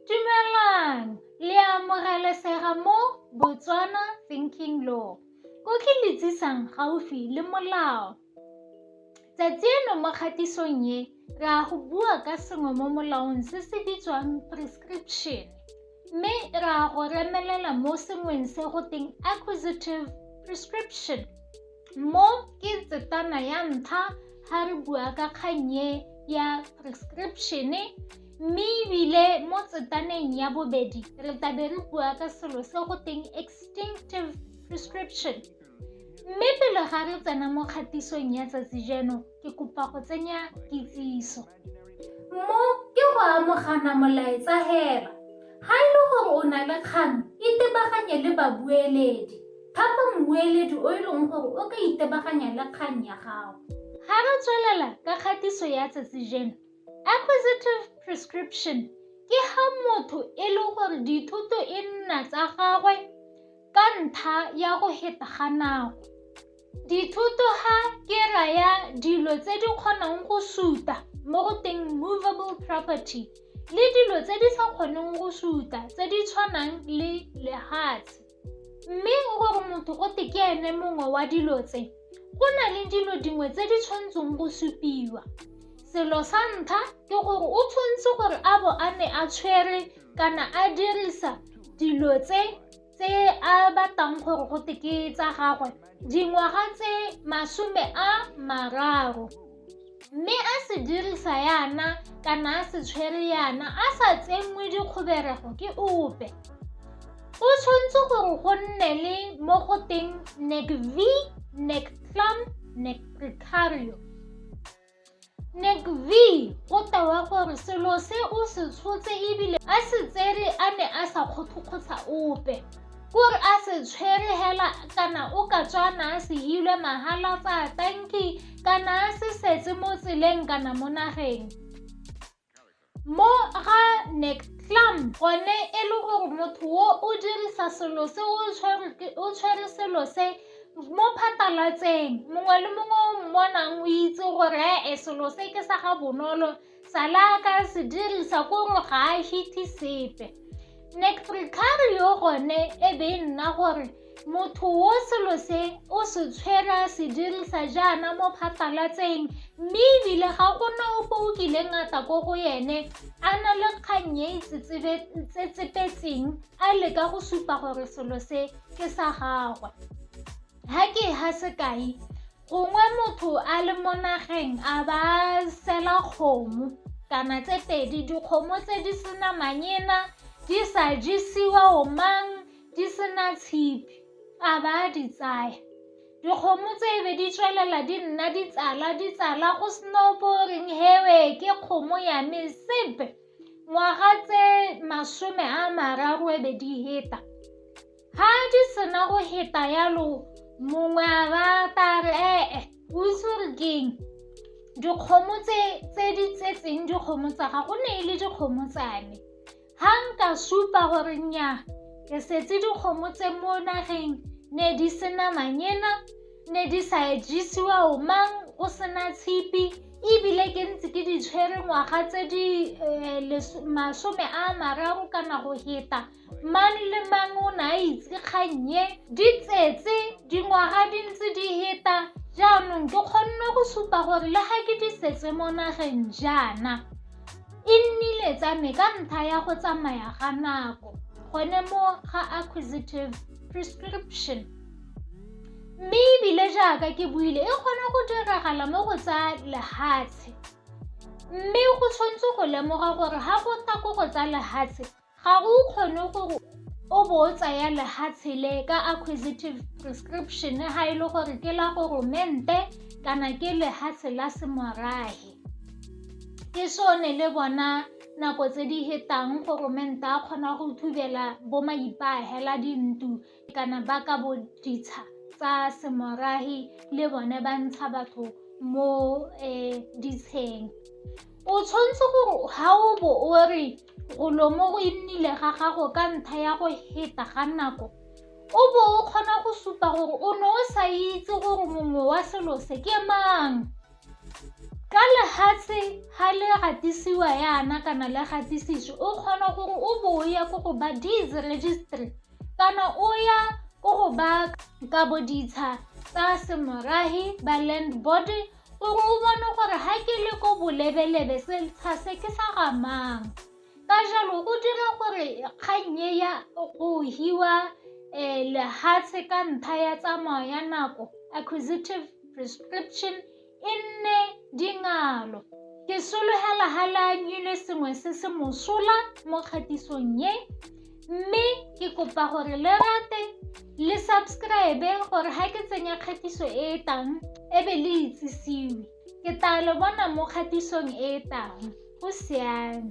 Dumelang, le a amogelesega mo Botswana Thinking Law. Ko ke le tsisang gaufi le molao. Tsatsi eno mo kgatisong ye, re a go bua ka sengwe mo molaong se se bitswang prescription. Mme re a go remelela mo sengweng se go teng acquisitive prescription. Mo ke tsetana ya ntlha ga re bua ka kgannye ya prescription-e mme ebile mo tsetaneng ya bobedi re tabe re bua ka selo se go teng extinctive prescription mme pele ga re tsena mo kgatisong ya tsatsi jeno ke kopa go tsenya kitsiso Mo ke go amogana molaetsa hela. Ga e le gore o na le kgang, itebaganye le babueledi. Thapa mmueledi o e leng gore o ka itebaganya le kgang ya gago. Ga re tswelela ka kgatiso ya tsatsi jeno, acquisitive prescription ke ga motho e le gore dithuto e nna tsa gagwe ka ntlha ya go heta ga nako. Dithoto ga ke raya dilo tse di kgonang go suta mo go teng movable property le dilo tse di sa kgoneng go suta tse di tshwanang le lehatshe. Mme gore motho go te ke ene mongwe wa dilo tse, go na le dilo dingwe tse di tshwanetseng go supiwa. Selo sa ntlha ke gore o tshwanetse gore a bo a ne a tshwere kana a dirisa dilo tse tse a batlang gore go te ke tsa gagwe dingwaga tse masome a mararo mme a se dirisa yana kana a se tshwere yana a sa tsenngwe dikgoberego ke ope o tshwanetse gore go nne le mo go teng nec v nec clam nec precario Ngvi o tewa gore selo se o se tshotse ebile a se tsere a ne a sa kgothokgotsha ope. Kore a se tshwere hela kana o ka tswa na a se hilwe mahala tsa tanki kana a se setse mo tseleng kana mo nageng. Mo ga Neklam, gone e le gore motho o o dirisa selo se o tshwere selo se mo phatalatseng mongwe le mongwe o mmonang o itse gore e selo se ke sa ga bonolo sala ka se dirisa ko gore ga a hithe sepe Nektrikari yo gone e be e nna gore Motho wo selo se o se tshwera se dirisa jaana mo phasalatseng mme ebile ga gona ope o kileng a tla ko go ene a na le kgang e tsetsepetseng a leka go supa gore selo se ke sa gagwe ha ke ha sekai gongwe motho a le mo nageng a ba sela kgomo kana tse pedi dikgomo tse di sena manyena di sa jesiwa o mang di sena tshipi a ba a di tsaya dikgomo tse be di tswelela di nna di tsala di tsala go sena opo o reng hewe ke kgomo ya me sepe ngwaga tse masome a mararo e be di heta ga di sena go heta yalo mongwe a ba ta re ee o itse gore keng dikgomo tse di tsetseng dikgomo tsa ga go ne e le dikgomo tsa me Ha nka supa gore nnyaa ke setse dikgomo tse mo nageng ne di sena manyena ne di sa jesiwa o mang o sena tshipi ebile ke ntse ke di tshwere ngwaga tse di eh, masome a mararo kana go heta mang le mang o ne a itse kgannye di tsetse dingwaga di ntse di heta jaanong ke kgonne go supa gore le ga ke di setse mo nageng jaana E nnile tsa me ka ntlha ya go tsamaya ga nako gone mo ga acquisitive prescription mme ebile jaaka ke buile e kgona go diragala mo go tsa lehatshe mme go tshwanetse go lemoga gore ga go tla ko go tsa lehatshe Ga o kgone gore o bo o tsaya lehatshe le ka acquisitive prescription ga e le gore ke la goromente kana ke lehatshe la semorage ke sone le bona nako tse di hetang goromente a kgona go thubela bo maipahela dintlo kana ba ka bo ditsha tsa semorahi le bone ba ntsha batho mo um ditsheng o tshwanetse gore ga o bo o re golomo go e nnile ga gago ka ntlha ya go heta ga nako o bo o kgona go supa gore o ne o sa itse gore mongwe wa selo se ke mang ka lehatshe ga le gatisiwa yana kana le gatisitswe o kgona gore o bo o ye ko go ba deeds registry Kana o ya ko go ba ka boditsha tsa semorahi ba land board gore o bone gore ga ke le ko bolebelebe setsha se ke sa gamang ka jalo o dira gore kgang e ya go hiwa um lehatshe ka ntlha ya tsamao ya nako acquisitive prescription E nne dingalo. Ke solegela ga le anyile sengwe se se mosola mo kgatisong e mme ke kopa gore le rate le subscribe gore ga ke tsenya kgatiso e e tang e be le itsisiwe ke tla le bona mo kgatisong e e tang go siame